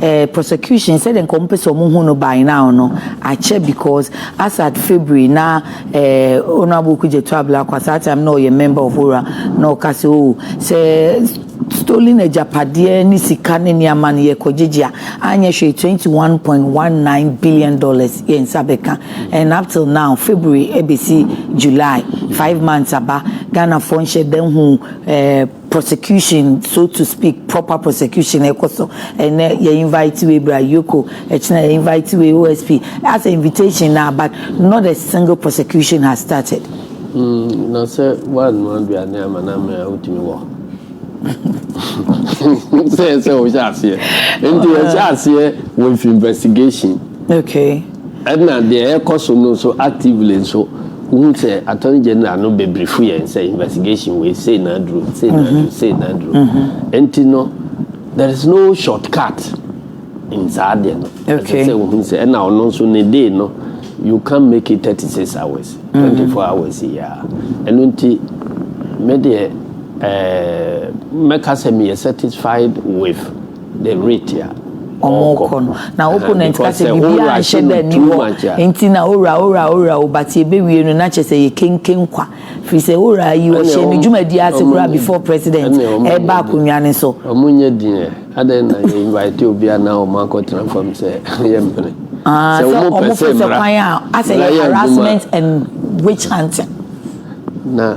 Eh prosecution sɛdeɛ nka ɔmo pɛsɛ ɔmo hu no by now no akyɛ because as at February na eh honourable Kujetu Ablakwa saa time na ɔyɛ member of ora na ɔka sɛ oh sɛ stolen agyapadeɛ ne sika ne nneɛma no yɛ kɔ gyegye a anyɛ hwee twenty one point one nine billion dollars yɛn nsa bɛka and up till now February ɛbɛsi July five months aba Ghanafoɔ nhyɛ da hu eh prosecution so to speak proper prosecution ɛkɔ so ɛnɛ yɛ invite wei bra yoko ɛkyina yɛ invite wei osp as a invitation na but not a single prosecution has started. Mm, na sɛ woanoa aduane ama no amee a wotumi wɔ sɛ sɛ wohyɛ aseɛ nti ɛhyɛ aseɛ with investigation okay Ɛna deɛ ɛkɔ so no nso actively nso wohu sɛ Attorney General no bɛbrifo yɛn sɛ investigation wei sei na aduru, sei na aduru, mhm. sei na aduru. Mhm. Nti no there is no shortcut in saa deɛ no. Ɛsɛ sɛ wohu sɛ ɛna ɔno nso ne day no you can make it 36 hours, 24 mhm. hours yia. Ɛno nti me deɛ ɛɛ eh, mɛka sɛ meyɛ satisfied with the rate a wɔkɔ no na opponent ka sɛ biribiara nhyɛ da nni hɔ nti na owura owura owura o but yɛbɛwie no na kyerɛ sɛ yɛ kenken kwa firi sɛ owura yi ɔhyɛ ne dwumadi ase koraa before president ɛba akonnwa no so. wɔn nyɛ din ɛ adɛn na yɛ invite obi a na wɔn akɔtena fam sɛ yɛ mpene sɛ wɔn pɛ sɛ mmara mmara yɛ adwuma na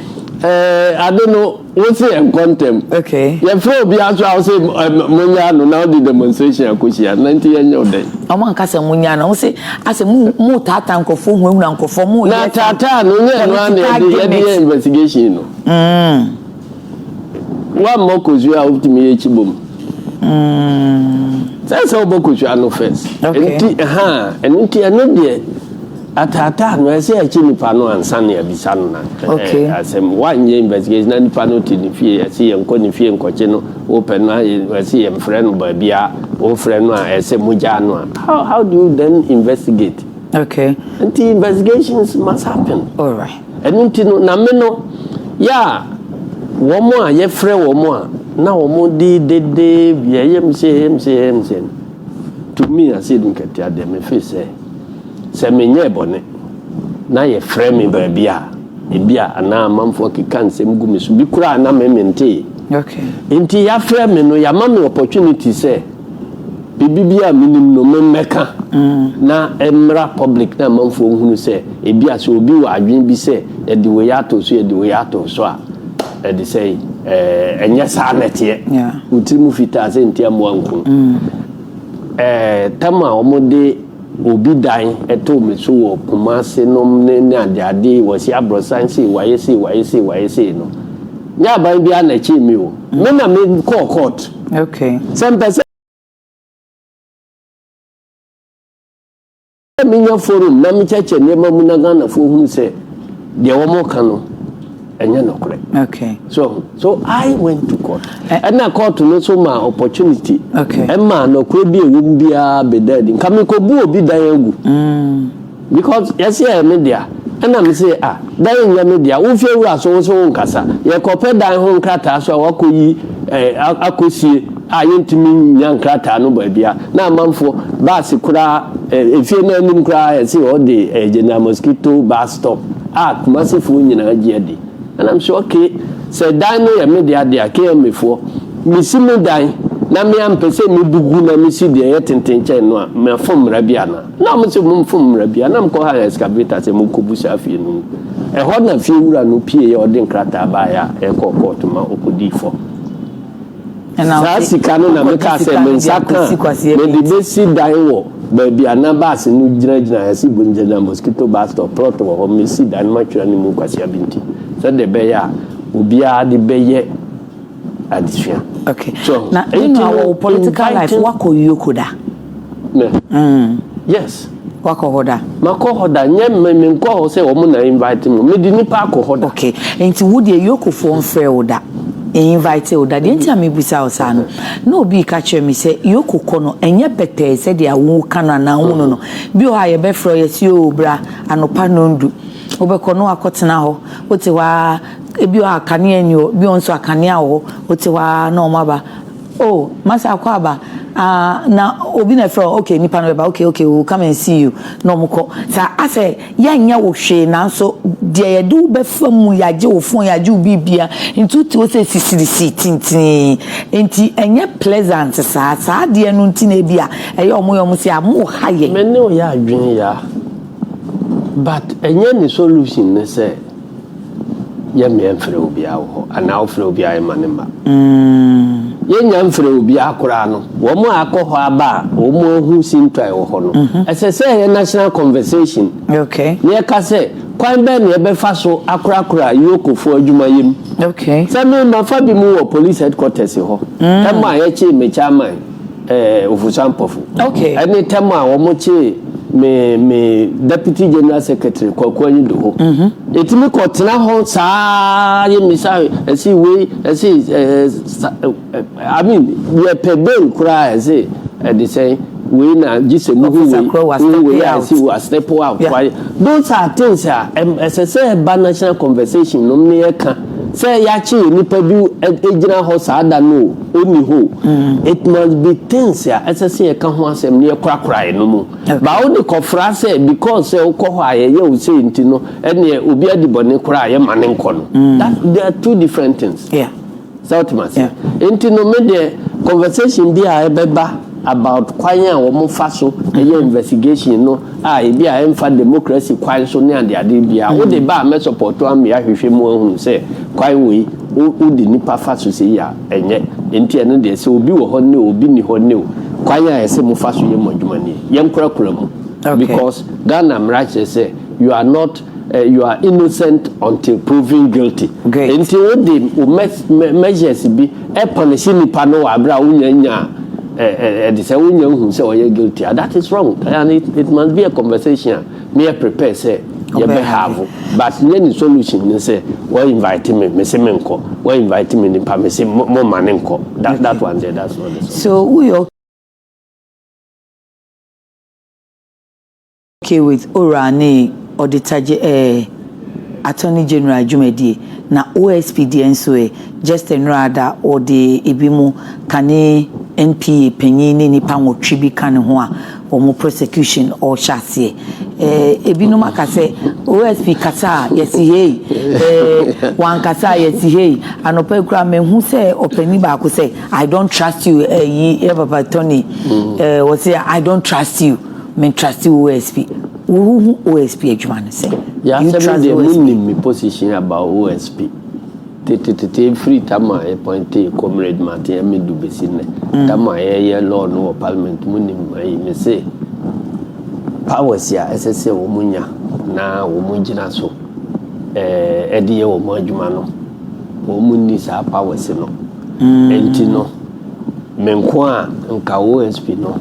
Ɛɛ, ade no, wose ɛnkɔ ntɛm. Okay. Yɛfrɛ obiara so a wose monyaa no na wode demonstration akohyia no, na nti yɛnyɛ wo dɛn? Ɔmo anka sɛ monyaa no, wose asɛ mo mo taataa nkorɔfoɔ hunahuna nkorɔfoɔ mo yɛ. Na taataa no nyɛ ɛno ara na yɛde yɛde yɛ investigation no. Mm. Wammɔ kosua a wotumi yɛ kyi bom. Mm. Sɛ sɛ wobɔ kosua no first. Okay. Nti ɛhaa ɛno nti ɛno deɛ. Ataataa no, ɛsɛ yɛkye nipa no ansa na yɛabisa no asɛm. Woanyɛ investigation na nipa no te ne fie, ɛsɛ yɛnkɔ ne fie nkɔkye no. Wopɛ no a, ɛsɛ yɛmfrɛ no baabi a wofrɛ no a, ɛsɛ mogyaa no a. How, how do you then investigate? Okay. Nti investigations must happen. All right. Ɛno nti no, na me no, yɛ a wɔn a yɛfrɛ wɔn a na wɔn de dede yɛyɛ m sɛ yɛm sɛ yɛm sɛ to me ase nkatia deɛ me fe sɛ Sɛ menyɛɛ bɔne, na yɛfrɛ me baabi a, ebia anaa amanfoɔ keka nsɛm gu me so, bi koraa a na me mentee. Enti yɛafrɛ me no, yɛama me opportunity sɛ biribi biara a menim no me mmɛka na ɛmmra public na amanfoɔ nhunu sɛ ebia sɛ obi wɔ adwene bi sɛ yɛde wei ato so, yɛde wei ato so a, ɛde sɛ eh, ɛnyɛ saa na ɛteɛ. Wo tiri mu fitaa sɛ ntiamoa nku. Eh, tam a wɔde Obi dan too me so wɔ Kumase nom ne ne adeade wɔse aborosan sei wayɛ sei wayɛ sei wayɛ sei no nyɛ aban biara na ɛkyee me o me na me kɔɔ court sɛ mpɛ sɛ menya forum na me kyɛkyɛ nneɛma mu na Ghanafoɔ hunu sɛ deɛ wɔn ka no. ɛnyɛ nokorɛ okay. so so I went to court ɛna eh. court no so ma opportunity okay. ɛma nokorɛ bi a ɛwɔ mu biara bɛda adi nka mekɔbu obi dan agu mm. because yɛsɛ yɛ me dea ɛna me se ah dan nyɛ me dea wofie wura so wo so wo nkasa yɛkɔpɛ dan ho nkrataa so a wakɔyi eh, akɔsie a yɛntumi nnya nkrataa no baabia na amanfoɔ baase koraa ɛfie no anim koraa ɛse ɔde ɛyɛ General Mosquito bus stop a Kumasefoɔ nyinaa gye adi and I'm sure okay sɛ dan no yɛ me dea dea KMA foɔ mesi me dan na me ampɛ sɛ mebu gu na mesi deɛ ɛyɛ tenten kyɛn no a mafom mmara bi anaa na ɔmo se momfom mmara bi a na mekɔ ha excavator sɛ monkɔbu saa fie no mu ɛhɔ na fie wura no pieɛ ɔde nkrataa baeɛ a ɛkɔɔ kɔɔto ma ɔkɔdii fam Saa sika no na mekaa sɛ me nsa ka a, mede bɛsi dan wɔ baabi a na baase no gyinagyina, Yasi Bunjana Mosquito Bus Stop, plot wɔ hɔ, mesi dan no matwera no mu kwasea bi nti, sɛdeɛ ɛbɛyɛ a obiara de bɛyɛ adesua. Okay. So, na Nti Menuah, no, wɔwo political life, inviting- woakɔ Yoko da? Me. Ɛɛ. Yes. Wakɔ hɔ da? Makɔ hɔ da. Nyɛ me menkɔ hɔ sɛ wɔn na invite me. Mede nipa akɔ hɔ da. Okay. Nti wo deɛ Yokofoɔ mfrɛɛ wo da? Invitee wo da? Deɛ nti a mebisa wo saa no, na obi reka kyerɛ me sɛ Yoko kɔ no, ɛnyɛ pɛtɛɛ sɛdeɛ woka no anaa wohu no no. Bi wɔ hɔ a yɛbɛfrɛ wo, yɛse oo bra anɔpa nnɔndu. Wobɛkɔ na woakɔtena hɔ. Wote hɔ ara, ebi wɔ hɔ a kanea nni hɔ, ebi wɔ hɔ nso a kanea wɔ hɔ. Wote hɔ ara na wɔaba. Oh mase akwaaba ah na obi na ɛfrɛ wo okay nipa no bɛba okay okay we will come and see you na ɔmo kɔ sa asɛ yɛnyɛ wo hwee nanso deɛ yɛde wo bɛfa mu yɛagye wo phone yɛagye wo biribia nti wote hɔ sɛ sisirisi tintinii nti ɛnyɛ pleasant saa saa adeɛ no nti na ebi a ɛyɛ ɔmo yɛ ɔmo sɛ a mo ha yɛn. Me ne wo yɛ adwene ya but ɛnyɛ ne solution ne sɛ Yɛ mmea mfrɛ obiara wɔ hɔ anaa wofrɛ obiara yɛ mma ne mma. Yɛ nnya mfrɛ obiara koraa no, wɔn a akɔ hɔ aba a wɔn ahu sintɔ a ɛwɔ hɔ no, ɛsɛ sɛ ɛyɛ national conversation na yɛka sɛ kwan bɛn na yɛbɛfa so akorakora Yokofoɔ adwuma yɛ mu. Sɛ me, mafa bi mu wɔ police headquarters hɔ, ɛmɔ a yɛkyee mmekyɛ amae. eh, Ofusa Mpofu. Okay. Ɛne tɛm a wɔn kyee me me Deputy General Secretary Kwaku Anyidoho. Mm-hmm. Etimi kɔ tena hɔ saa yɛ misa ɛsi wei ɛsi ɛɛ sa I mean yɛ pɛ den koraa ɛsi ɛde sɛn wei na gye sɛ mu hu wei hu wei a ɛsi wɔ asepo a kwae. Those are things a ɛsɛ sɛ ɛba national conversation nom ne yɛ ka sɛ yɛakye nipa bi egyina hɔ saa da no o. Onni hɔ o. It must be things a ɛsɛ sɛ yɛka ho asɛm na yɛkorakorae no mu. But wode kɔfra sɛ because sɛ wokɔ hɔ a yɛyɛ wo sei nti no, ɛnneɛ obi adi bɔne koraa a yɛmma no nkɔ no. That, they are two different things. Yeah. Sɛ wote me aseɛ? Yeah. Nti no me deɛ conversation bi a ɛbɛba about kwan a wɔfa so yɛ investigation no a ebi a ɛmfa democracy kwan so ne adeade biara, wode ba a mɛsupporto ama yɛahwehwɛ mu ahunu sɛ kwan wei Wo wo de nipa fa so sei a ɛnyɛ nti ɛno deɛ sɛ obi wɔ hɔ ne o obi nni hɔ ne o kwan a ɛsɛ mo fa so yɛ mo adwuma nie yɛn kura kura mu because Ghana mmara kyerɛ sɛ you are not eh, you are innocent until proven guilty nti wo de o measures bi ɛpɔnisi nipa no wɔ abira wo nya nya ɛde eh, eh, sɛ wo nya hu sɛ ɔyɛ guilty a that is wrong and it, it must be a conversation Me yɛ prepare sɛ yɛ bɛ have but nyɛ ne solution ne sɛ wɔ invite me me se me nkɔ wɔ invite me nipa me se mo mo ma ne nkɔ that that one there that's not the solution. So wo yɛ okay with owura ne auditor ge ɛɛ attorney general dwumadie na OSP deɛ nso ɛ just a nnora ada ɔde ebi mo ka ne NPA panyin ne nipa nwɔtwe bi ka ne ho a wɔn prosecution ɔɔhyɛ aseɛ eh, ebinom aka sɛ OSP kasa a yɛsi hei eh, wankasa a yɛsi hei anɔpa yi koraa mehu sɛ ɔpani baako sɛ I don't trust you eh, yi yɛ papa Tony mm. eh, wɔsi I don't trust you me trust you OSP wohu OSP adwuma no sɛ you trust OSP. yasɛ mi deɛ mu nim mi position about OSP. Tetetete firi tam a yɛpɔintee Comrade Martin Amidu bɛsi nnɛ, tam a yɛyɛ law no wɔ Parliament mu nim ayi me se powers a ɛsɛ sɛ wɔn nya na wɔn gyina so ɛɛɛ de yɛ wɔn adwuma no, wɔn nni saa powers no. Ɛnti no, me nko a nka OSP no.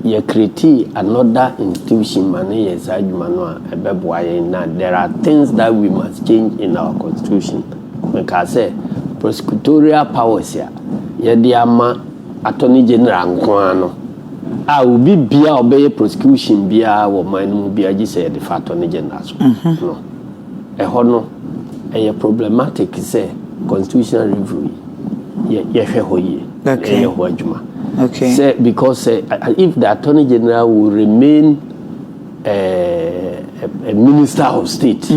Yɛcreatee another institution ma no yɛ saa adwuma no a, ɛbɛboa yɛn. Na there are things that we must change in our constitution. Mekaa sɛ, prosecutorial powers a yɛde ama Attorney General nko ara no, a obi biara a ɔbɛyɛ prosecution biara wɔ man no mu biara gye sɛ yɛde fa Attorney General so no, Ɛhɔ no, ɛyɛ problematic sɛ constitutional review yi yɛ yɛhwɛ hɔ yie na Okay. yɛyɛ ho adwuma. Okay. Sɛ because sɛ a- a- if the attorney general will remain eh, a, a minister of state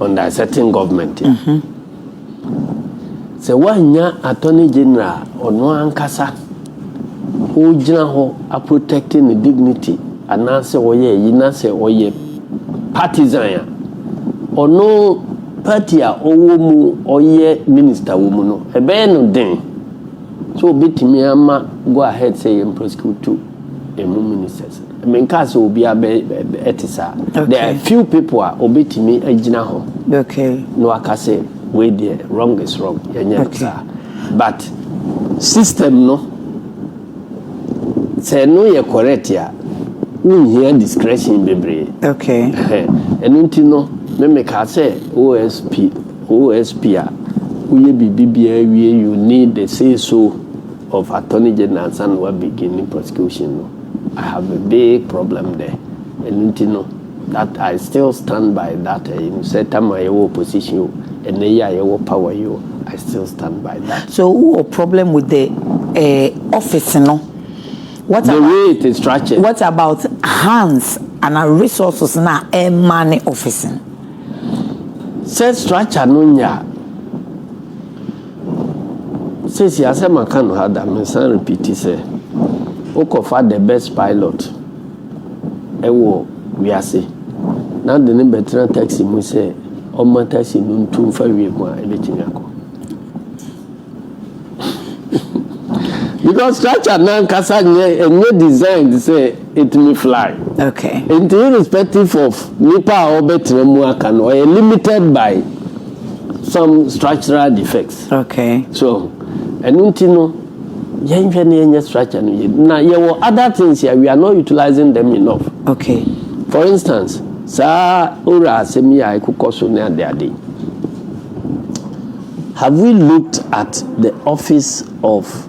under a certain government a, Sɛ woannya Attorney General a ɔno ankasa ɔgyina hɔ a protect ne dignity anaasɛ ɔyɛ ayi na sɛ ɔyɛ partisan a, ɔno party a ɔwɔ mu ɔyɛ minister wɔ mu no, ɛbɛyɛ no den sɛ ɔbɛtumi ama go ahead sɛ yɛn prosecute ɛmu ministers. Me nkaa sɛ obia bɛ ɛte saa. Okay. There are few people a obetumi agyina hɔ. Okay. Na waka sɛ wei deɛ wrong is wrong. Yɛnyɛ no saa. But system no sɛ no yɛ correct a wonhia discretion bebree. Okay. Ɛno nti no me mekaa sɛ OSP OSP a woyɛ biribi biara wie you need the say so. Of attorney general ansa na wa begin ne prosecution no I have a big problem there ɛno nti no that I still stand by that ɛyi no sɛ tam a yɛwɔ opposition o ɛnɛ yi a yɛwɔ power yi o I still stand by that. So wo wɔ problem with the eh, office no what the about way it is structured. What about hands and resources na ɛma ne office no. Sɛ structure no nyɛ a. Seesei asɛ maka no ha da mesan repiti sɛ wokɔfa the best pilot wɔ wiase na wode no bɛtena taxi mu sɛ ɔmma taxi no ntu mfa wiem a ɛbɛtumi akɔ because structure nankasa nyɛ ɛnyɛ design sɛ etumi fly. Okay. Nti irrespective of nipa a ɔbɛtena mu aka no, ɔyɛ limited by some structural defects. Okay. So ɛno nti no yɛnhwɛ na yɛnyɛ structure no yie. Na yɛwɔ other things a we are not utilizing them enough. Okay. For instance, saa owura asɛm yi a ɛkokɔ so ne ade ade. Have we looked at the office of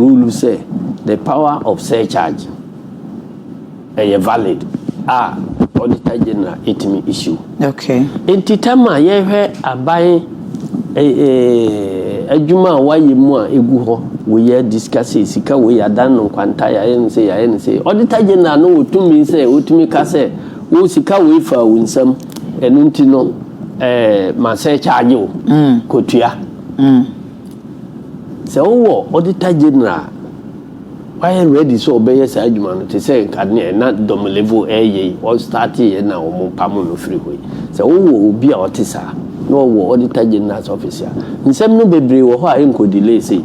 rule sɛ the power of surcharge ɛyɛ valid a auditor general ɛtumi issue. Okay. Nti tam a yɛhwɛ aban eh, eh, adwuma a wayɛ mu a ɛgu hɔ wei yɛ discuss sika wei yɛadan no nkwanta yɛayɛ no sɛ yɛayɛ no sɛ auditor general no wɔtumi sɛ wɔtumi ka sɛ wo sika wei faa wo nsam ɛno nti no eh, ma sɛ charge wo mm. kɔtua mm. Sɛ wowɔ Auditor General a wayɛ ready sɛ ɔbɛyɛ saa adwuma no te sɛ nka neɛ na Domolevo ɛreyɛ yi, ɔstarteeɛ na wɔpamoo no firi hɔ yi. Sɛ wowɔ obi a ɔte saa na ɔwɔ Auditor General's office a, nsɛm no bebree wɔ hɔ a ɛnkɔ delay sei.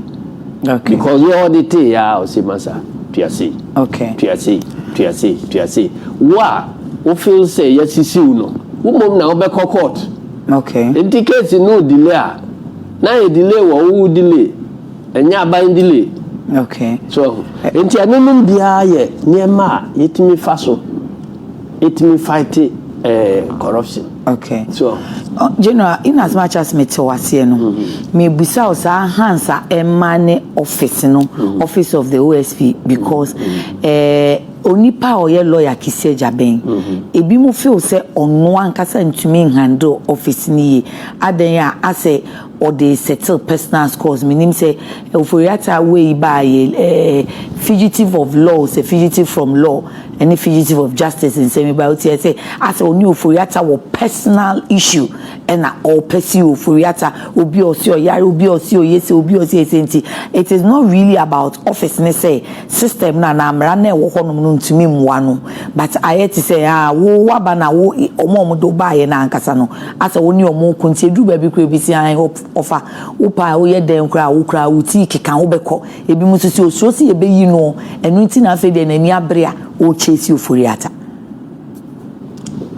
Okay. Because yɛ audite yɛ a ɔse masa tua sei. Okay. Tua sei, tua sei, tua sei. Wo a wo feel sɛ yɛasisiw no, wo mmom na wobɛkɔ court. Okay. Nti case no delay a Na ayɛ delay wɔ wo wo delay ɛnyɛ aban delay. Okay. So ahu. Nti ɛno nom biara yɛ nneɛma a yɛtumi fa so ɛtumi fight eh, corruption. Okay. So ahu. General, in as much as me te waseɛ no, mm -hmm. me busa wo saa hands a ɛma ne office no, mm -hmm. office of the OSP because mm -hmm. eh, onipa a ɔyɛ lawyer kisɛ gya bɛn, mm -hmm. ebi mo feel sɛ ɔno ankasa ntumi handle office no yie. Adɛn a asɛ ɔde settle personal scores menim sɛ Ofori-Atta wei baa yɛ ɛɛ fugitive of law sɛ fugitive from law ɛne fugitive of justice nsɛm yi baa wotie ɛsɛ asɛ ɔne Ofori-Atta wɔ personal issue ɛna ɔɔpɛ si Ofori-Atta obi a ɔse ɔyare obi a ɔse ɔyɛ sei obi a ɔse ɔyɛ sei nti it is not really about office ne sɛ system no anaa mmara no a ɛwɔ hɔ nom no ntumi mmoa no but ayɛ te sɛ aa wo waba na wo wɔn a wɔde wo baayɛ no ankasa no Asɛ wo ne wɔn reko nti eduru baabi koraa ebi si ae ɔfa wo paa woyɛ dɛn koraa a wo koraa wo ti keka wo bɛkɔ ebinom nso sɛ osuro sɛ yɛbɛyi no ɛno nti na afei deɛ n'ani abere a ɔrekyɛsi oforiata.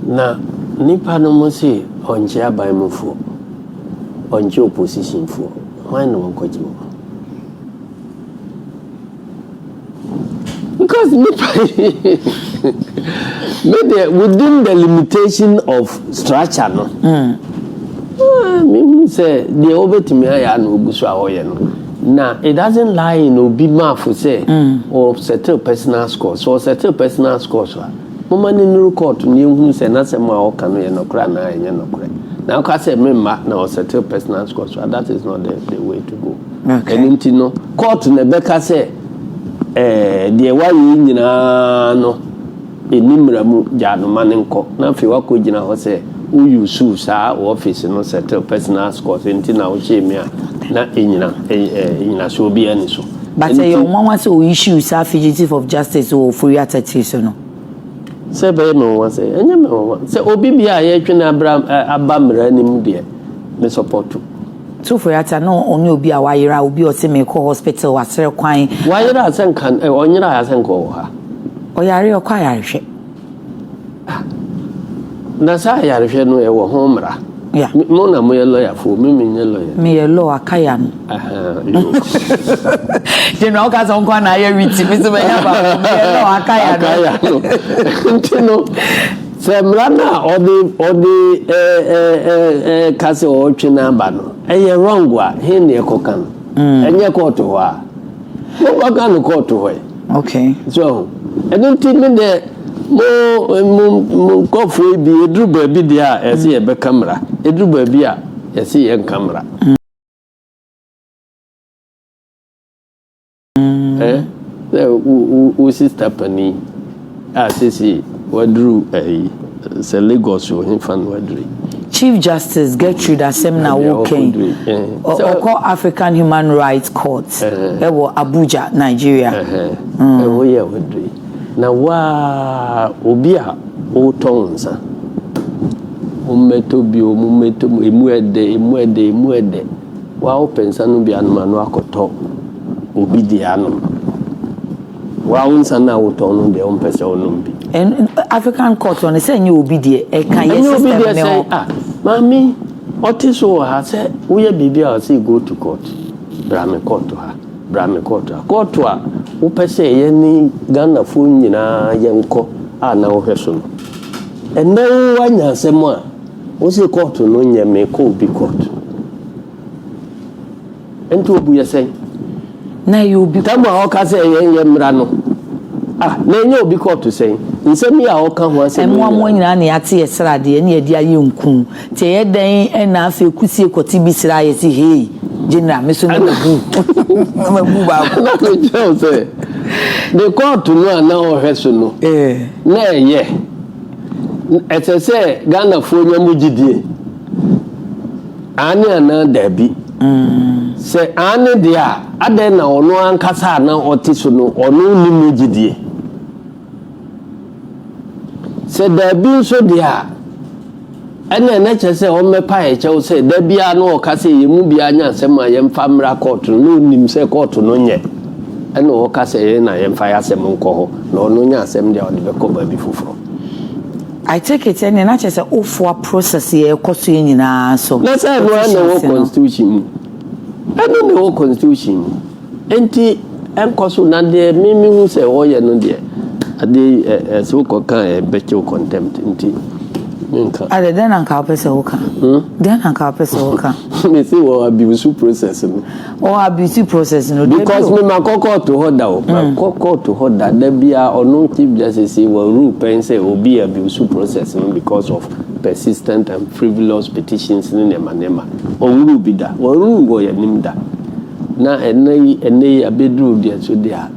Na nnipa no mo se ɔnkye aban mu foɔ ɔnkye opposition foɔ hwan na ɔnkɔgye wɔn. Because me me deɛ within the limitation of structure no. Mm. Ah, me hu sɛ deɛ wobɛtumi ayɛ a na ogu so a ɔyɛ no. na it doesn't lie in obi maafo sɛ mm. or settle personal scores or settle personal scores a moma ne nuru court ne ehunu sɛ n'asɛm a ɔka no yɛ nɔkorɛ anaa ɛnyɛ nɔkorɛ na ɔka sɛ memma na ɔsettle personal scores a that is not the, the way to go Ɛno nti no, kɔɔto na ɛbɛka sɛ deɛ wayɛ yi nyinaa no ɛnni mmara mu, gyaa no ma no nkɔ. Na afei woakɔgyina hɔ sɛ wo use saa wo ɔfese no settle personal scores nti na wohyɛɛ mu a, na ɛnnyina nnyinasoɔ biara nni so. But ɛyɛ wo nwanwa sɛ wo use saa fugitive of justice wɔ Ofori-Atta tiri so no? Sɛ ɛbɛyɛ me nwanwa sɛn? Ɛnyɛ me nwanwa. Sɛ obi biara a yɛretwe no aba mmara no mu deɛ, me sɔpɔto. Tufurata no ɔne obi a wayera, obi a ɔse meekɔ hospital, wasrɛ kwan. Wayera a sɛ nka ɔnyerae a sɛ nka ɔwɔ ha. Ɔyare a ɔkɔ ayarehwɛ. Ah, na saa ayarehwɛ no ɛwɔ ho mmara. Yeah. Mo na moyɛ lɔyafoɔ, me menyɛ lɔya. Meyɛ law akaya no. General woka sɛ nkoa na ayɛ witi, me so mɛyɛ baako, meyɛ law akaya no. Akaya no. Nti no. Sɛ mmara no a ɔde ɔde ɛɛɛɛɛɛka sɛ ɔretwe no aba no ɛyɛ wrong a, he na ɛkɔka no? Mm. Ɛnyɛ kɔɔto hɔ a. Monkɔka no kɔɔto hɔ ɛ. Okay. So ho. Ɛno nti me dɛ mo mo mo nkɔfoɔ yi bi eduru baabi deɛ a ɛsɛ mm. yɛbɛka mmara. Eduru baabi a yɛsɛ yɛnka mmara. Mm. Eh, sɛ wo wo wo sista panin a sese waduru ɛyi sɛ Lagos wɔ he fa na waduru yi. Chief Justice Gertrude asɛm na Ɛdeɛ woka yi. ɔkɔduru yi. Eh, sɛ- Ɔkɔ African Human Rights Court Eh. ɛwɔ Abuja, Nigeria. Ɛhɛn, ɛhɔ yi a waduru yi. Na waa obi a wotɔ wo nsa. Mommɛtɔ bio, mommɛtɔ mu, emu ɛdɛ, emu ɛdɛ, emu ɛdɛ. W'awopɛ nsa no bi anom ano akɔtɔ obi deɛ anom. W'awo nsa no a wotɔn no deɛ wompɛ sɛ wonom bi. Ɛn African culture no sɛ ɛnyɛ obi deɛ ɛka yɛ system ne ho. Ɛnyɛ obi deɛ sɛ ah maame ɔte so wɔ ha sɛ woyɛ biribi a ɔsɛ go to court bra me court ha bra me court ha court a wopɛ sɛ yɛne Ghanafoɔ nyinaa yɛnkɔ a na wohwɛ so no ɛnɛ wo anya asɛm a. Wose court no nyɛ me kɔ obi court nti obu yɛ sɛn? Na ɛyɛ obi court. Tam a ɔka sɛ yɛn yɛ mmra no ah na ɛnyɛ obi court sɛn? Nsɛm yi a ɔka ho asɛm yi nyinaa. Ɛmoamoa nyinaa na yɛate yɛ sra deɛ na yɛde ayɛ nku nti ɛyɛ dɛn ɛna afei kusie kɔte bi sra yɛ se hei general me so na mabu na mabu baako. Na me kyerɛw sɛ ne court no a na ɔhwɛ so no na ɛyɛ. Ɛsɛ sɛ Ghanafoɔ nya mu gyidie. Aane anaa daabi? Sɛ aane deɛ a, adɛn na ɔno ankasa a na ɔte so no, ɔno nni mu gyidie? Sɛ daabi nso deɛ a, Ɛnneɛ na ɛkyerɛ sɛ wɔmmɛpae kyɛw sɛ da biara na wɔka sɛ yɛn mu biara nyɛ asɛm a yɛmfa mmra kɔɔto no, na ɔnim sɛ kɔɔto no nyɛ ɛna wɔka sɛ yɛn na yɛmfa yɛn asɛm nkɔ hɔ, na ɔno nya asɛm deɛ a ɔde bɛkɔ baabi foforɔ. I take it ɛnneɛ na kyerɛ sɛ wofoa process yi a ɛkɔ so yi nyinaa so. Na sɛ ɛno ara na ɛwɔ constitution mu? Ɛno na ɛwɔ constitution mu. Enti ɛnkɔ so, na deɛ me mehu sɛ wɔyɛ no deɛ, adeɛ yi ɛ ɛ sɛ wokɔka a ɛbɛkyɛ wo contempt nti menka. Ade dɛn na anka wopɛ sɛ woka? Hmm? Dɛn na anka wopɛ sɛ woka? Mese wɔ abuse process no. Wɔ abuse process no, dabi o. Because me makɔ kɔɔto hɔ da o, hmm. makɔ kɔɔto hɔ da, da biara ɔno Chief Justice yi wɔ rule pɛn sɛ obi abuse process no because of persistent and frivolous petitions ne nneɛma nneɛma. Ɔnwuru bi da, wɔnwuru wɔ yɛn anim da. Na ɛnnɛ yi, ɛnnɛ yi abeduru deɛ so deɛ a,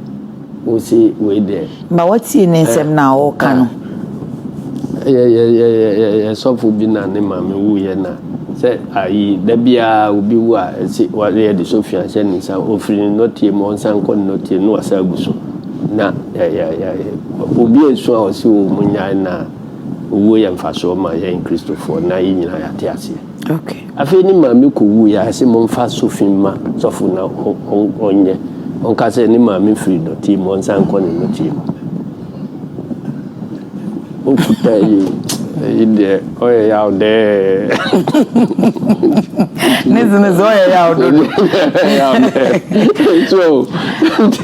wose wei deɛ. Ma watie ne nsɛm no a ɔreka no. Yɛ yɛ yɛ yɛ yɛ sɔfo bi na ne maame wuiɛ na sɛ ayi da biara obi wu a ɛsi wɔyɛ de sofi ahyɛ ne nsa ofiri ne nɔteɛ mu ɔnsan kɔ ne nɔteɛ mu na wasa agu so na yɛ yɛ yɛ obi esu a ɔsi wɔ mu nyae na owuo yɛ mfasoɔ ma yɛn kristofoɔ na yɛ nyinaa yɛate aseɛ. Okay. Afei ne maame kowuiɛ a, ɛse momfa sofi mma sɔfo na ɔnyɛ, ɔnka sɛ ne maame firi dɔteɛ mu, ɔnsan nkɔ ne nnɔteɛ mu. Wokuta yi o, ɛyi deɛ ɔyɛ yaw dɛɛ. Ne zene sɛ ɔyɛ yaw dodo.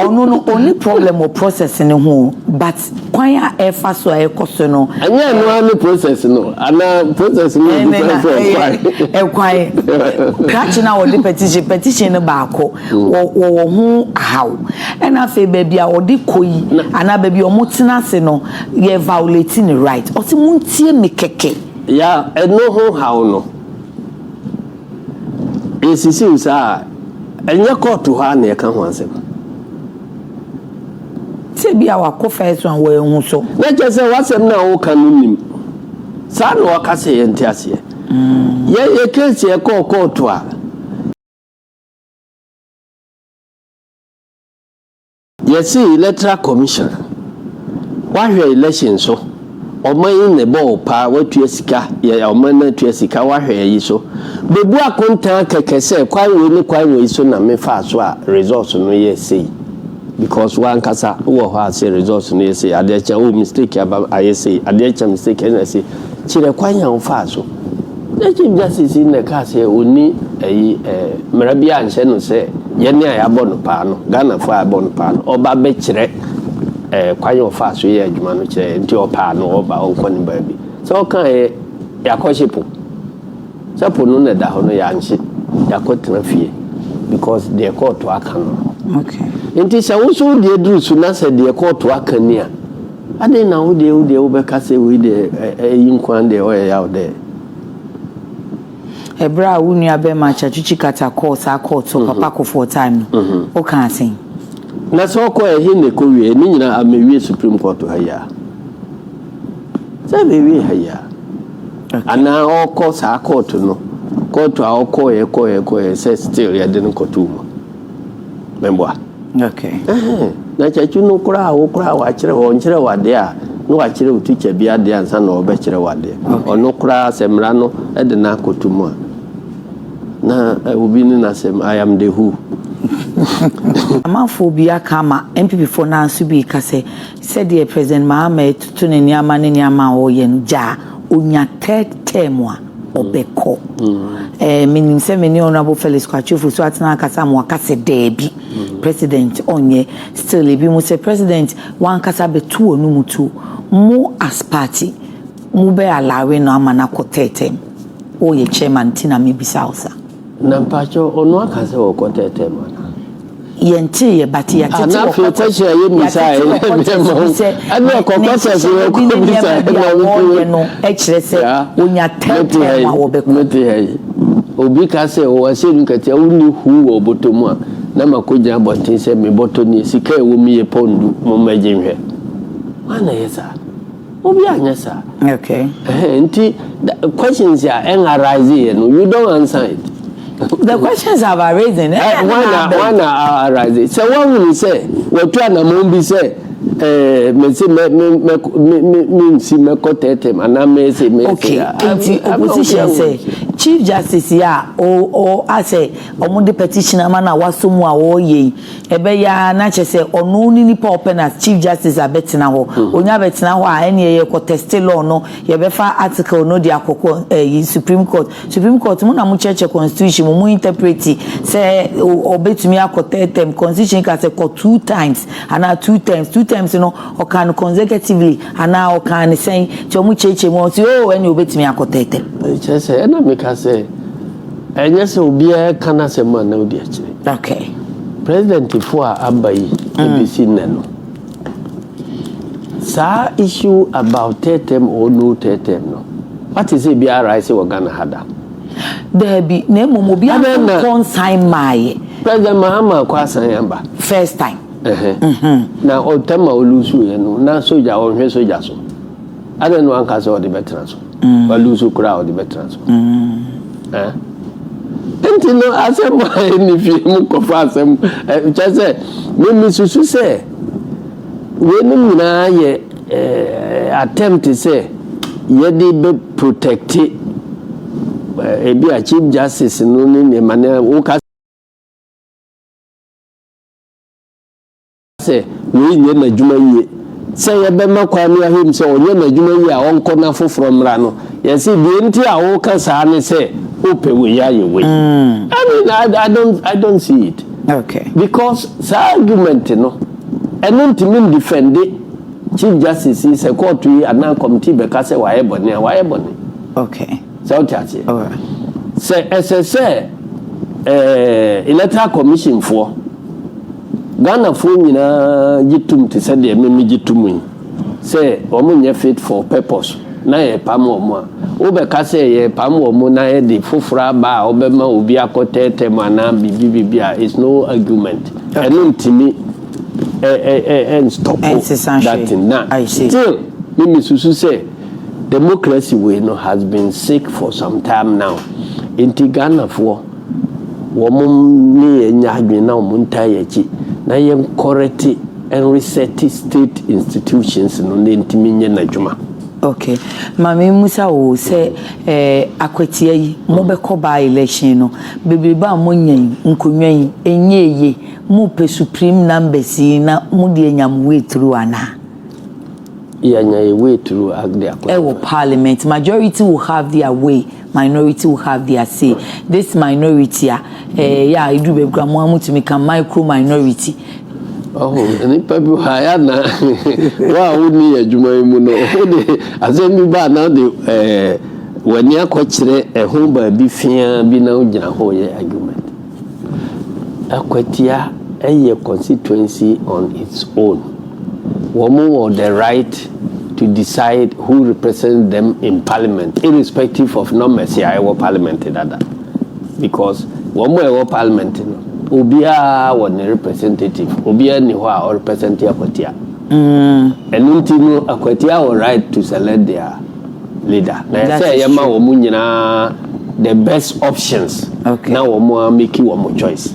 Ɔno no, ɔni problem wɔ process ne ho o, but Kwan a ɛfa so a ɛkɔ so no. Ɛnyɛ ɛno ara ne process no anaa process no yɛ different from kwan. Ɛkwan krakye na wɔde petition petition no baako wɔ wɔwɔ ho ahaw ɛna afei baabi a wɔde kɔ yi anaa baabi a wɔn tena ase no yɛ violate ne right ɔsi mo ntie mi kɛkɛ. Ya ɛno ho haw no esisiw saa a ɛnyɛ kɔɔto hɔ a na ɛka ho asɛm. Tebea a wɔakɔ fae so a wɔanhu so. Na kyerɛ sɛ w'asɛm no a woka no nnim. Saa na wɔka sɛ yɛnte aseɛ. Yɛyɛ case yɛkɔɔ kɔɔto a. Yɛse electoral commission wahwɛ election so. Ɔman yi na ɛbɔ wo paa woatua sika yɛ ɔman no atua sika woahwɛ ayi so bɛbu akontaa kɛkɛ sɛ kwan wei ne kwan wei so na me faa so a results no yɛ sei because woankasa wowɔ hɔ a se results no yɛ sei adeɛ kye a oh mistake aba ayɛ sei adeɛ kye a mistake ɛna sei kyerɛ kwan a wofaa so na chief justice yi na ɛkaa sɛ ɔni ayi eh, mmara bi anhyɛ no sɛ yɛne a yɛabɔ no paa no Ghanafoɔ a yɛabɔ no paa no ɔba bɛkyerɛ ɛɛ kwan a ɔfaa so yɛ adwuma no kyerɛ nti ɔpaa no ɔba ɔkɔ ne baabi sɛ ɔkaeɛ yɛakɔhye po sɛ po no na ɛda hɔ no yɛanhye yɛakɔtena fie because deɛ kɔɔto aka no nti sɛ wo so wodeɛ duru so na sɛ deɛ kɔɔto aka ni a adɛn na wodeɛ wodeɛ wobɛka sɛ wei deɛ ɛyi nkoa deɛ ɔyɛ yaw dɛ Ɛberɛ a wo nua bɛrima Chachuchi Kata kɔɔ saa court hɔ papa Kofoɔ time no, wo kaa sɛn? Na sɛ ɔkɔ ɛ he na ɛkɔ wie ɛ? Ne nyinaa a mɛ wie supreme court ha yi a? Sɛ mɛ wie ha yi a? Okay. Anaa ɔkɔ saa court no, court a ɔkɔ ɛ kɔ ɛ kɔ ɛ sɛ still yɛde no kɔto mu. Mɛboa. Okay. Ɛhɛn. Na kyɛkye no koraa a wokoraa wɔakyerɛ wɔ nkyerɛ w'adeɛ a na wɔakyerɛ wo tikya bi adeɛ ansa na wɔbɛkyerɛ w'adeɛ. Ɔno koraa sɛ mmara no de no akɔto mu a na obi ne n'asɛm I am the who. Amanfoɔ bi aka ama NPPfoɔ no ara nso bi reka sɛ sɛdeɛ President Mahama retoto ne nneɛma ne nneɛma a ɔreyɛ no gyaa ɔnya third term a, ɔbɛkɔ. Eh, menim sɛ me ne Honorable Felix Kwatwefo so atena akasa ma waka sɛ daabi, president ɔnyɛ. Still, ebi mo sɛ president wankasa bɛto wɔ no mu tuo. Mo as party, mo bɛ alawe no ama no akɔ tɛɛtɛm. Woyɛ chairman nti na mebisa wo sa. Na mpakyɛw ɔno aka sɛ ɔkɔ tɛɛtɛɛ mu anaa? Yɛntee yɛ but yɛatete wɔ quarters. Ana afei kɔkyerɛ yɛ misa yɛ na ɛbɛma wo. Ɛne ɔkɔ quarters yɛ ɔkɔ bisa yɛ na ɔbɛpɛ. Ne nneɛma bi a wɔyɛ no kyerɛ sɛ ɔnya tɛɛtɛɛ mu a wɔbɛkɔ. Mete ha yi. Obi ka sɛ ɔwɔ ahyɛnu katia wonni huu wɔ ɔbɔtɔ mu a na makɔ gyina abɔnten sɛ me bɔtɔ nie sika a ɛwɔ mu yɛ pɔn du mommɛgye nhwɛ. Hwan na ɛyɛ saa? Obi anyɛ saa. Okay. Ɛhɛn nti questions a ɛn arise yɛ no you don't answer it. The questions have arisen. Ɛhɛn eh, na na abɛn. Wana arise sɛ wahunu sɛ watu anamɔn bi sɛ ɛɛ mesi mɛ mɛ mɛ mɛ mɛ nsi mɛ kɔ tɛɛtɛm anaa mɛ ese mɛ ese. Okay. Nti opposition sɛ chief justice yɛ a o o asɛ wɔn de petition ama na wasɔ mu a wɔyɛ yi. Ɛbɛyɛ ara na kyerɛ sɛ ɔno ne nipa a ɔpɛ na chief justice abɛtena hɔ. Ɔnya bɛtena hɔ a, ɛneɛ yɛkɔ tɛste law no, yɛbɛfa article no de akɔ kɔ ɛyi supreme court. Supreme court mo na mo kyerɛkyerɛ constitution mu, mo interpreti sɛ ɔbɛtumi akɔ third term. Constitution ka sɛ kɔ two times anaa two terms. Two terms no ɔkaa no consecutively anaa ɔkaa no sɛn? Nti ɔmo kyerɛkyerɛ mu a ɔse oo ɛneɛ ɔbɛtumi akɔ third term. Ɛkyerɛ sɛ ɛna meka sɛ Ɛnyɛ sɛ obiara reka n'asɛm a na odi akyire. Okay. Presidentfoɔ a aba yi mm. bɛsi nnɛ no, saa issue about third term or no third term no, wate sɛ bi arise wɔ Ghana ha da? Daabi, na mmom obi ankɔ nsan maaye. President Mahama kɔ asan aba. First time. Mm-hmm. Na ɔtɛm a olusu yɛ no, na soja ɔnhwɛ soja so. Adɛn na wanka sɛ ɔde bɛtena so? Mm. Walu so koraa ɔde bɛtena so. Mm. Eh? nti no asɛm a ɛni fie mu kɔfa asɛm kyɛ sɛ memesusu sɛ weinom nyinaa yɛ attempt sɛ yɛde bɛ protecte ebi a chief justice no ne nneɛma no woka sɛ wei nyɛ n'adwuma yie. Sɛ yɛbɛma Kwame Ahem sɛ ɔnyɛ n'adwuma yie a ɔnkɔ na foforɔ mmra no, yɛse deɛ nti a woka saa ne sɛ wopɛ wei ayɛ wei. I mean, I, I, don't, I don't see it. Okay. Because saa argument no, ɛno ntumi ndefɛnde Chief Justice yi sɛ kɔɔto yi anaa kɔmiti bɛka sɛ wayɛ bɔne a, wayɛ bɔne. Okay. Sɛ wote aseɛ? Sɛ ɛsɛ sɛ Electoral Commission foɔ, Ghanafoɔ nyinaa gye tom te sɛ deɛ me megye tom yi, sɛ wɔn nyɛ fit for purpose na yɛrepam wɔn a, wobɛka sɛ yɛrepam wɔn na yɛde foforɔ aba a ɔbɛma obi akɔ third term anaa biribi biribi a, it's no argument. Ɛno ntumi ɛnstɔpo that thing. Na still me mesusu sɛ. Democracy wei no has been sick for some time now nti Ghanafoɔ wɔn ne yɛn nyɛ adwene na wɔn ntaa yɛn akyi na yɛn kɔrɛte and reset state institutions no na ntumi nyɛ n'adwuma. Okay. Maame Musa wo sɛ eh, akwatia yi mobɛkɔ baa election no bebrebe a monya yi nkonnwa yi ɛnyɛ eye mopɛ supreme numbers yi na mode anya mo way through anaa? Yɛanya yɛ way through ag de akɔ so. Ɛwɔ parliament, majority will have their way, minority will have their say. This minority a, eh, yɛ a ɛduru baabi kora mo a motumi ka micro minority. Ɔho, nnipa bi hɔ a yɛ na wo a wonni yɛ adwuma yi mu no, wo de asɛm bi ba a na wode eh, w'ani akɔkyerɛ ɛho baabi feaa bi na wogyina ho yɛ argument. Akwatia yɛ constituency on its own. Wɔn wɔ the right to decide who represents them in parliament irrespective of numbers a ɛwɔ parliament dada because wɔn a ɛwɔ parliament no obiara wɔ ne representative obiara ni hɔ a ɔrepresent akwatia. Mm. Ɛno nti no akwatia wɔ right to select their leader na yɛ sɛ yɛ ma wɔn nyinaa the best options na wɔn a make wɔn choice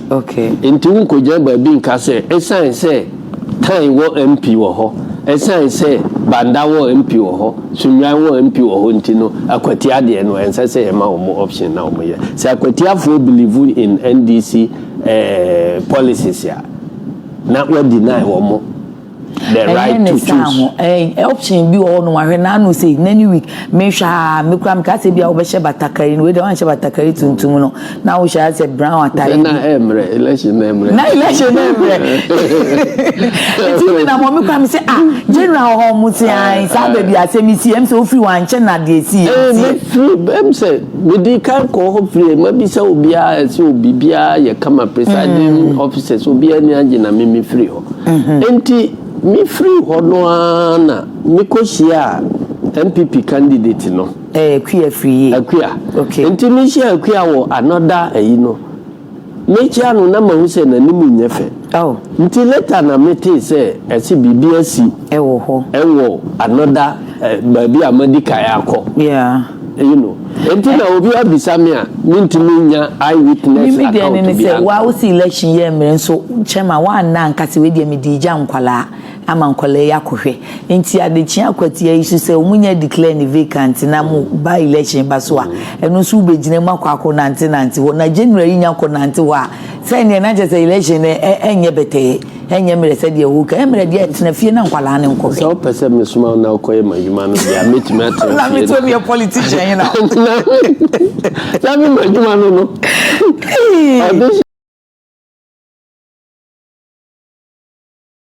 nti wo nkɔ gyina baabi nka sɛ esan sɛ tan wɔ MP wɔ hɔ esan sɛ banda wɔ MP wɔ hɔ sunwan wɔ MP wɔ hɔ nti no akwatia deɛ no ɛnsɛ sɛ yɛ ma wɔn option na wɔn yɛ sɛ akwatiafoɔ believe in NDC ɛɛ eh, policies a na wɔ deny wɔn. the right to choose. ɛnyɛ ne saa ho ɛɛ option bi wɔ hɔ nom ahwɛ n'ano sei n'ani weak mehwɛ aa mekura meka sɛ bi a wobɛhyɛ batakari no wei deɛ wanhyɛ batakari tuntum no na wohyɛ asɛ brown atare bi. na ɛmmerɛ election na ɛmmerɛ. na election na ɛmmerɛ nti mi na mɔmi kura mi sɛ ah general hɔ mo si an saa baabi asɛm mi si ɛm sɛ ofiri wɔn ankyɛ na deɛ si yɛ ti. ɛɛ firi ɛm sɛ medi kan kɔ hɔ firi ma bi sɛ obiara ɛsɛ obi biara yɛ kama presiding officers obiara ni agye na mi mi firi hɔ. Enti mefirii hɔ no ara na mekɔhyiaa NPP candidate no. Ɛɛ Akua firi yie? Akua. Okay. Enti mehyiaa Akua wɔ another ayi no, mekyia no na mahu sɛ n'anim nyɛ fɛ. Oh. Nti later na metee sɛ ɛse biribi asi. Ɛwɔ hɔ. Ɛwɔ another. baabi a madi kan akɔ. Yeah. You know. Enti na obi abisa me a, mintumi nya eye witness account biara. Mimi deɛ ne sɛ, wa wosi election yɛ mmerɛ nso chairman wa nna nka sɛ wei deɛ me di gya nkwalaa ama nkwalaa yi akɔhwɛ. Enti adekyea kwatia yi so sɛ wɔn nyɛ declare ne vacant na mo ba election ba so a, ɛno nso wo bɛ gyina mu akɔ akɔ nante nante hɔ. Na general yi nya kɔ nante hɔ a, sɛ neɛ na kyɛ sɛ election no ɛnyɛ bɛtɛɛ. Ɛnyɛ mmerɛ sɛdeɛ woreka, ɛyɛ mmerɛ deɛ tena fie na nkwadaa no nkɔhwɛ. Sɛ wopɛ sɛ mesoma wo na wokɔyɛ m'adwuma no deɛ a, mɛtumi atena fie. Na me nso meyɛ politician hena? Na me m'adwuma no no.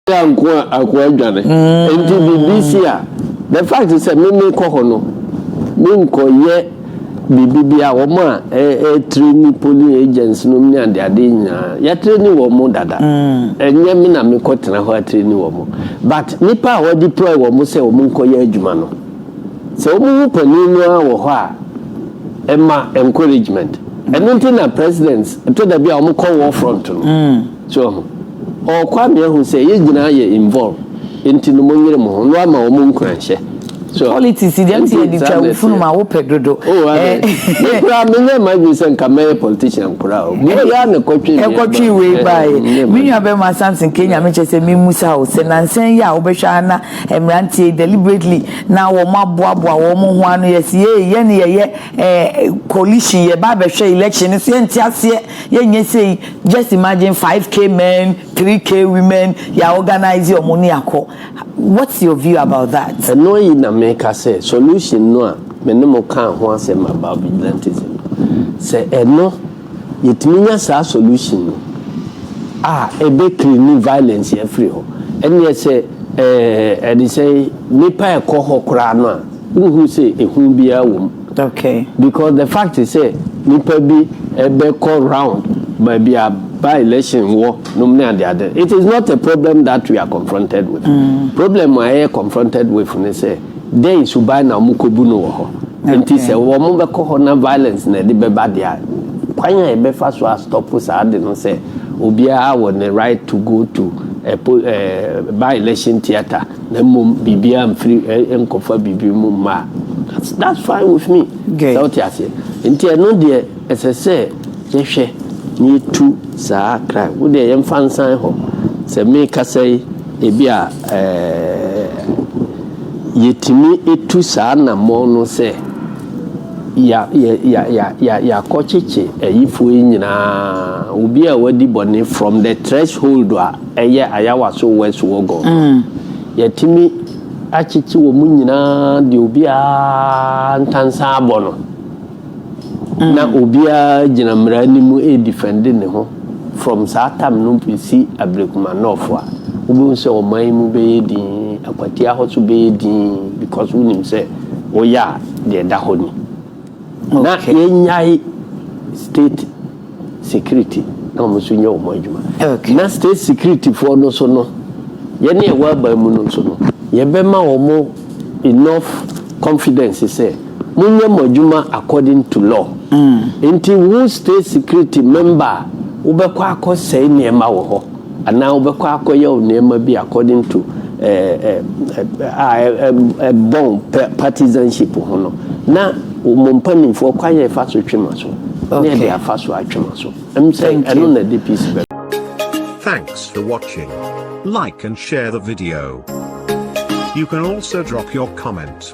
a nko a akoa adwane nti biribi si a the fact sɛ meme kɔ hɔ no menkɔyɛ Biribi biara, wɔn a ɛretraini polling agents nom ne adeade nyinaa, yɛatraini wɔn dada. Ɛnyɛ me na mekɔtena hɔ atraini wɔn. But nnipa a wɔadeploy wɔn sɛ wɔnkɔyɛ adwuma no, sɛ wɔhu panin no ara wɔ hɔ a, ɛma encouragement. Ɛno nti na presidents, ɛtɔ da bi a wɔkɔ war front no, So wahu? Ɔɔ Kwame ahu sɛ yɛ nyinaa yɛ involve nti no mo nyere mo ho no ama wɔn nkuranhyɛ. So. Politics deɛ nti yɛde twa wo funu ma wo pɛ dodo. Oh adɛ. Me koraa me nyɛ m'adwene sɛ nka mɛyɛ politician koraa o. Biribi ara na ɛkɔtwe me aba. Ɛkɔtwe wei baeɛ. Me nua bɛrima Samson Kenya me kyɛ sɛ me mmusa wo sɛ nansa yi a wobɛhwɛ ara na mmeranteɛ yi deliberately na wɔn aboaboa wɔn ho ano yɛ si ee yɛne yɛyɛ eh coalition yɛba abɛhwɛ election no so yɛnte aseɛ yɛnyɛ sei Just imagine five k men three k women ya organise ɔmo ne akɔ what's your view about that. Ɛno ayi na me ka sɛ solution no a me ne mo kaa ho asɛm about vigilantism no sɛ ɛno yɛtumi nya saa solution no a ɛbɛ cleani violence afiri hɔ ɛneɛ sɛ ɛɛ ɛde sɛn nipa ɛkɔ hɔ koraa no a. Wonhunu sɛ ehu biara wɔ mu. Okay. Because the fact sɛ nipa bi bɛkɔ round baabi a by election wɔ nom ne ade ade it is not a problem that we are confronted with. Problem a yɛyɛ confronted with ne sɛ dɛn suban na wɔn kɔbu no wɔ hɔ. Nti sɛ wɔn bɛkɔ hɔ na violence na ɛde bɛba deɛ a, kwan a yɛbɛfa so a stop saa ade no sɛ obiara wɔ ne right to go to a poll ɛɛ by election theatre. Na mmom biribiara mfiri ɛ nkɔfa biribi mu mma a, that's that's fine with me. Sɛ wote aseɛ? Nti ɛno deɛ ɛsɛ sɛ yɛhwɛ na yɛtu saa kra. Wo deɛ yɛmfa nsan hɔ. Sɛ mekasa yi, ebi a ɛɛɛ yɛtumi tu saa nammɔn no sɛ ya ya ya ya ya yɛakɔkyekye ayifoɔ yi nyinaa, obi a wadi bɔne from the threshold a. Ɛyɛ Ayawaso West Wuogon no. Yɛatumi akyekye wɔn nyinaa deɛ obiara ntansa abɔ no, na obiara gyina mmara anim redefɛnde ne ho from saa tam no bɛsi Ablekuma North a, wobɛhu sɛ ɔman yi mu bɛyɛ dinn, Akwatia hɔ nso bɛyɛ dinn because wonim sɛ woyɛ a deɛ ɛda hɔ ni. Na yɛnyae state security na wɔn nso nyɛ wɔn adwuma. Na state security foɔ no nso no, yɛn a yɛwɔ aban mu no nso no, yɛbɛma wɔn enough confidence sɛ, monyɛ mo adwuma according to law. Nti wo state security member a, wobɛkɔ akɔsɛe nneɛma wɔ hɔ. Anaa wobɛkɔ akɔyɛ wo nneɛma bi according to a ɛbɔn partisanship ho no, na mo mpanimfoɔ kwan a ɛfa so twe mo aso ne ɛde afa so atwe mo aso. Ɛm sɛ ɛno na ɛde peace bɛba. Thanks for watching. Like and share the video. You can also drop your comment.